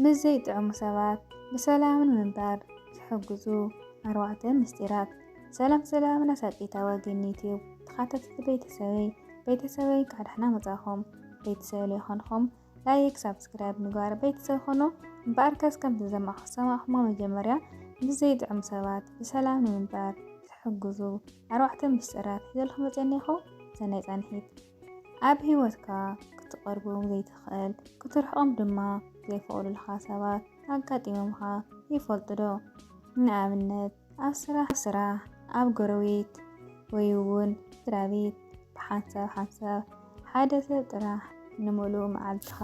ምስ ዘይጥዕሙ ሰባት ብሰላም ንምንባር ዝሕግዙ ኣርባዕተ ምስጢራት። ሰላም ሰላም ናሳቂታዊ ግን ዩቲዩብ ተኻታተልቲ ቤተሰበይ ቤተሰበይ እንካዕ ዳሕና መጻኹም ቤተሰብ ዘይኮንኹም ላይክ ሳብስክራይብ ምግባር ቤተሰብ ኾኑ እምበኣር ከስ ከምቲ ዘማኹ ሰማኹሞ መጀመርያ ምስ ዘይጥዕሙ ሰባት ብሰላም ንምንባር ዝሕግዙ ኣርባዕተ ምስጢራት ሒዘልኩም መጸኒኹ ሰናይ ጻንሒት ኣብ ህይወትካ ክትቐርቦም ዘይትኽእል፣ ክትርሕቖም ድማ ዘይፈቕዱልኻ ሰባት ኣጋጢሞምኻ ይፈልጡዶ? ንኣብነት ኣብ ስራሕ፣ ኣብ ጎረቤት ወይ'ውን ስድራቤት። ብሓንሳብ ሓንሳብ ሓደ ሰብ ጥራሕ ንምሉእ መዓልትኻ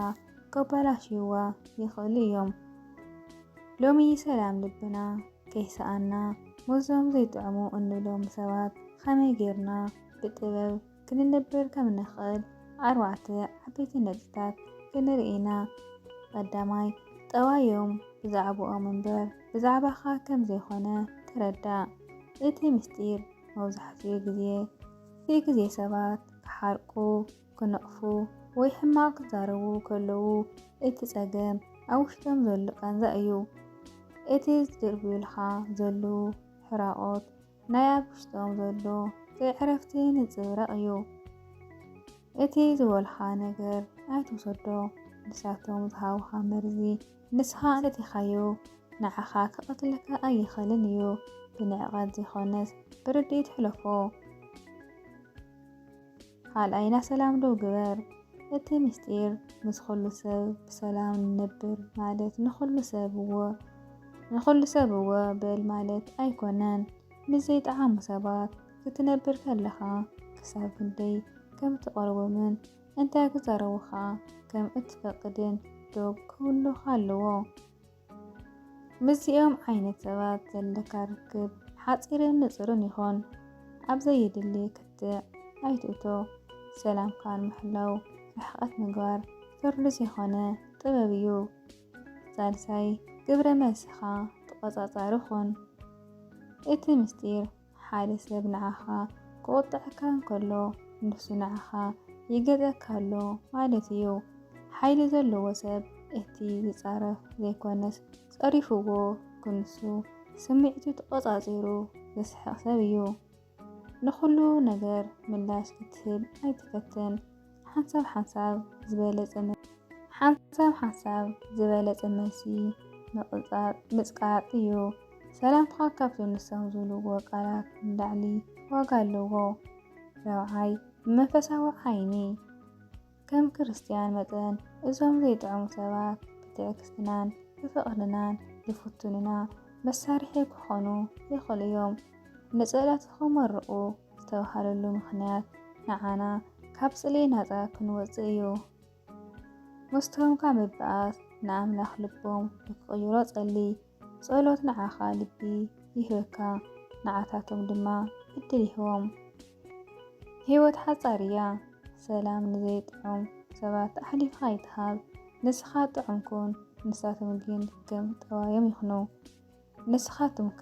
ከበላሽዩዋ ይኽእሉ እዮም። ሎሚ ሰላም ልብና ከይሰኣና ምስዞም ዘይጥዕሙ እንብሎም ሰባት ኸመይ ጌርና ብጥበብ ክንነብር ከም እንኽእል ኣርባዕተ ዓበይቲ ነጥብታት ክንርኢ ኢና። ቐዳማይ፣ ጠባዮም ብዛዕባኦም እምበር ብዛዕባኻ ከም ዘይኮነ ተረዳእ። እቲ ምስጢር መብዛሕትኡ ግዜ እቲ ግዜ ሰባት ክሓርቁ፣ ክነቕፉ፣ ወይ ሕማቕ ክዛረቡ ከለዉ እቲ ጸገም ኣብ ውሽጦም ዘሎ ቃንዛ እዩ። እቲ ዝድርብዩልኻ ዘለዉ ሕራቖት ናይ ኣብ ውሽጦም ዘሎ ዘይዕረፍቲ ንጽብረቕ እዩ። እቲ ዝበልኻ ነገር ኣይትውሰዶ፣ ንሳቶም ዝሃቡኻ መርዚ ንስኻ ኣጥቲኻዮ ንዓኻ ክቐትለካ ኣይኽእልን እዩ። ብንዕቐት ዘይኮነስ ብርድኢት ሕለፎ። ካልኣይና ሰላም ዶ ግበር እቲ ምስጢር ምስ ኹሉ ሰብ ብሰላም ንነብር ማለት ንኹሉ ሰብ እወ ንኹሉ ሰብ እወ በል ማለት ኣይኮነን ምስ ዘይጠዓሙ ሰባት ክትነብር ከለኻ ክሳብ ክንደይ ከም እትቐርቦምን እንታይ ክዛረቡኻ ከም እትፈቅድን ዶብ ክህሉኻ ኣለዎ። ምስዚኦም ዓይነት ሰባት ዘለካ ርክብ ሓፂርን ንፅርን ይኾን። ኣብ ዘየድሊ ክትዕ ኣይትእቶ። ሰላምካ ንምሕላው ርሕቐት ምግባር ፍርዲ ዘይኮነ ጥበብ እዩ። ሳልሳይ ግብረ መልስኻ ተቖፃፃሪ ኹን። እቲ ምስጢር ሓደ ሰብ ንዓኻ ክቑጥዐካ እንከሎ፣ ንሱ ንዓኻ ይገዝኣካ ኣሎ ማለት እዩ። ሓይሊ ዘለዎ ሰብ እቲ ዝጻረፍ ዘይኮነስ ጸሪፍዎ ክንሱ ስምዒቱ ተቖጻጺሩ ዝስሕቕ ሰብ እዩ። ንኹሉ ነገር ምላሽ ክትህብ ኣይትፈትን። ሓንሳብ ሓንሳብ ዝበለጸ መልሲ። ሓንሳብ ሓንሳብ ዝበለጸ መልሲ ምቕጻጽ፣ ምጽቃጥ፣ እዩ። ሰላምታኻ ካብዞም ንሶም ዝብልዎ ቃላት ንላዕሊ ዋጋ ኣለዎ። ራብዓይ፣ ብመንፈሳዊ ዓይኒ። ከም ክርስትያን መጠን እዞም ዘይጥዕሙ ሰባት ብትዕግስቲናን ብፍቕርናን ዝፍትኑና መሳርሒ ክኾኑ ይኽእሉ እዮም። ንጸሎትኹም መርቑ። ዝተባህለሉ ምኽንያት ንዓና ካብ ጽልኢ ናጻ ክንወጽእ እዩ። መስተሆምካ ምብኣስ ንኣምላኽ ልቦም ንክቕይሮ ጸሊ። ጸሎት ንዓኻ ልቢ ይህበካ ንዓታቶም ድማ ዕድል ይህቦም። ህይወት ሓጻር እያ። ሰላም ንዘይጥዑም ሰባት ኣሕሊፍኻ ኣይትሃብ። ንስኻ ጥዑም ኩን ንሳቶም ግን ከም ጠዋዮም ይኹኑ። ንስኻትኩምከ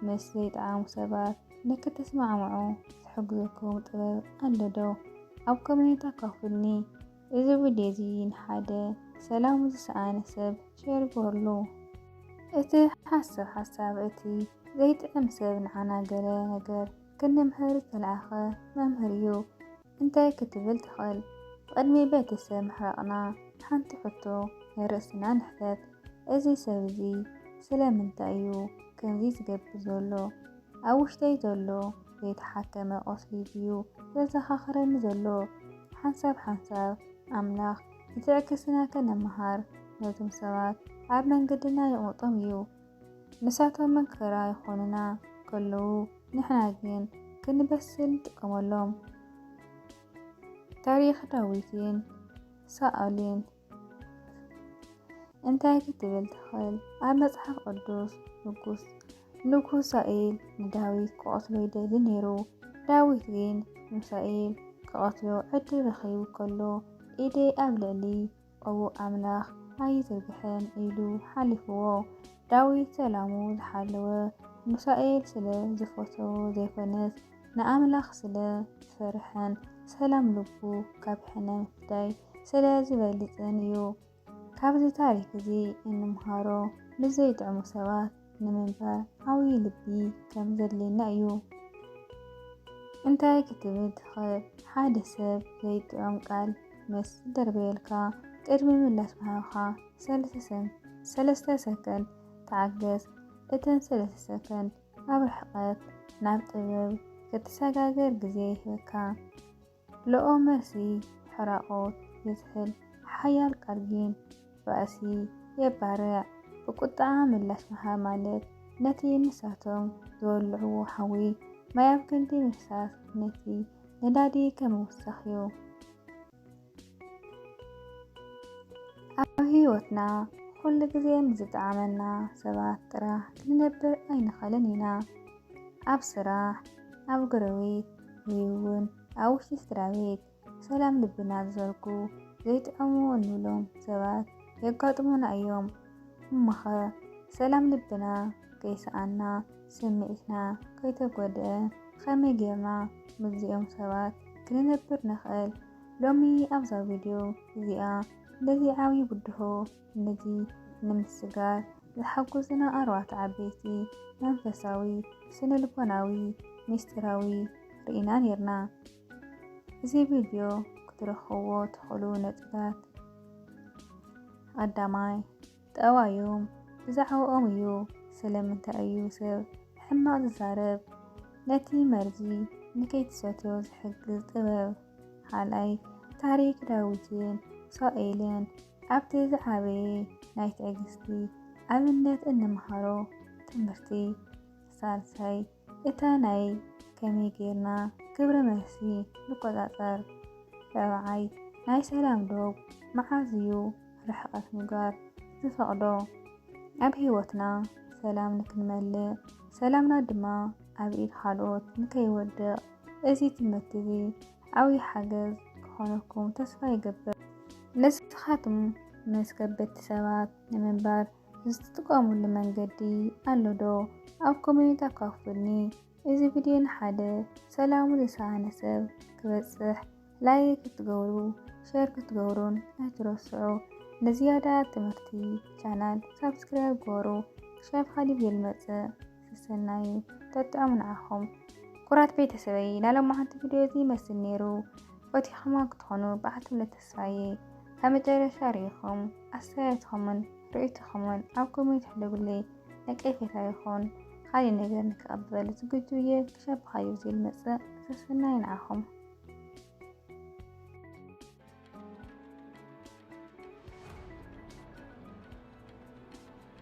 ምስ ዘይጠዓሙ ሰባት ንክትስማዕምዑ ዝሕግዘኩም ጥበብ ኣሎ ዶ? ኣብ ኮሜንት ኣካፉልኒ። እዚ ቪድዮ እዚ ንሓደ ሰላሙ ዝሰኣነ ሰብ ሼር ግበርሉ። እቲ ሓሳብ ሓሳብ እቲ ዘይጥዕም ሰብ ንዓና ገለ ነገር ክንምህር ዝተልኣኸ መምህር እዩ። እንታይ ክትብል ትኽእል? ብቕድሚ ቤተ ሰብ ምሕራቕና ሓንቲ ሕቶ ናይ ርእስና ንሕተት፣ እዚ ሰብ እዚ ስለምንታይ እዩ ከምዚ ዝገብር ዘሎ? ኣብ ውሽጠይ ዘሎ ዘይተሓከመ ቁስሊ ድዩ ዘዘኻኽረኒ ዘሎ? ሓንሳብ ሓንሳብ ኣምላኽ ንትዕግስትና ከነምሃር ነቶም ሰባት ኣብ መንገድና የቕምጦም እዩ። ንሳቶም መከራ ይኾኑና ከለዉ ንሕና ግን ክንበስል ንጥቀመሎም። ታሪኽ ዳዊትን ሳኦልን እንታይ ክትብል ትኽእል? ኣብ መጽሓፍ ቅዱስ ንጉስ ንጉስ ሳኤል ንዳዊት ክቐትሎ ይደሊ ነይሩ። ዳዊት ግን ንሳኤል ክቐትሎ ዕድል ረኺቡ ከሎ ኢደይ ኣብ ልዕሊ ኦው ኣምላኽ ኣይዝርግሕን ኢሉ ሓሊፍዎ። ዳዊት ሰላሙ ዝሓለወ ንሳኦል ስለ ዝፈተዎ ዘይኮነስ ንኣምላኽ ስለ ዝፈርሐን ሰላም ልቡ ካብ ሕነ ምፍዳይ ስለ ዝበልጽን እዩ። ካብዚ ታሪኽ እዚ እንምሃሮ ምስ ዘይጥዕሙ ሰባት ንምንባር ዓብዪ ልቢ ከም ዘድልየና እዩ። እንታይ ክትብል ትኽእል? ሓደ ሰብ ዘይጥዑም ቃል ምስ ዝደርበየልካ ቅድሚ ምላሽ ምሃብካ ሰለስተ ሰከንድ ተዓገስ። እተን ሰለስተ ሰከንድ ኣብ ርሕቀት ናብ ጥበብ ክትሰጋገር ግዜ ይህበካ። ለኦ መርሲ ሕራቆት የዝሕል ሓያል ቃልጊን ባእሲ የባርዕ። ብቁጥዓ ምላሽ ምሃብ ማለት ነቲ ንሳቶም ዝወልዕዎ ሓዊ ማይ ኣብ ክንዲ ምፍሳስ ነቲ ነዳዲ ከምውሳኽ እዩ። ኣብ ህይወትና ኩሉ ግዜ ምስ ዝጠዓመና ሰባት ጥራሕ ክንነብር ኣይንኸልን ኢና። ኣብ ስራሕ፣ ኣብ ጎረቤት ወይ'ውን ኣብ ውሽጢ ስድራቤት ሰላም ልብና ዝሰርጉ ዘይጥዕሙ እንብሎም ሰባት የጋጥሙና እዮም። እሞኸ ሰላም ልብና ከይሰኣና ስምዒትና ከይተጎድኣ ኸመይ ጌርና ምስዚኦም ሰባት ክንነብር ንኽእል? ሎሚ ኣብዛ ቪድዮ እዚኣ ነዚ ዓብዪ ብድሆ ነዚ ንምስጋር ዝሓጉዙና ኣርባዕተ ዓበይቲ መንፈሳዊ፣ ስነልቦናዊ፣ ሚስጢራዊ ርኢና ኔርና። እዚ ቪድዮ ክትረኽብዎ ትኽእሉ ነጥብታት ቐዳማይ፣ ጠባዮም ብዛዕባኦም እዩ፣ ስለምንታይ እዩ ሰብ ሕማቕ ዝዛረብ፣ ነቲ መርዚ ንከይትሰትዮ ዝሕግዝ ጥበብ፣ ኻልኣይ ታሪክ ዳዊትን ሳኦኤልን ኣብቲ ዝዓበየ ናይ ትዕግስቲ ኣብነት እንመሃሮ ትምህርቲ ሳልሳይ እታ ናይ ከመይ ጌርና ግብረ መልሲ ንቆጻጸር ራብዓይ ናይ ሰላም ዶብ መዓዝ እዩ ርሕቐት ምግባር ዝፈቕዶ ኣብ ህይወትና ሰላም ንክንመልእ ሰላምና ድማ ኣብ ኢድ ካልኦት ንከይወድቕ እዚ ትምህርቲ እዚ ዓብይ ሓገዝ ክኾነኩም ተስፋ ይገብር። ንስኻትኩም ምስ ከበድቲ ሰባት ንምንባር ዝትጥቀሙሉ መንገዲ ኣሎ ዶ? ኣብ ኮሜንት ኣካፉልኒ። እዚ ቪድዮ ንሓደ ሰላሙ ዝሰኣነ ሰብ ክበጽሕ ላይክ ክትገብሩ ሸር ክትገብሩን ኣይትረስዑ። ንዝያዳ ትምህርቲ ቻናል ሳብስክራይብ ግበሩ። ክሻብ ኻሊእ ቪድዮ ልመጽእ። ሰናይ ጠጥዑም ንዓኹም ኩራት ቤተሰበይ ናይ ሎማዓንቲ ቪድዮ እዚ ይመስል ነይሩ ፈቲኹማ ክትኾኑ ብዓትምለ ተስፋየ ካብ መጨረሻ ርኢኹም ኣስተያየትኹምን ርእይቶኹምን ኣብ ኮሜንት ሕደጉለይ ነቀፌታ ይኹን ካልእ ነገር ንክቐበል ዝግጁ እየ ክሻብ ብኻዩ ዝብል መፅእ ሰሰናይ ንዓኹም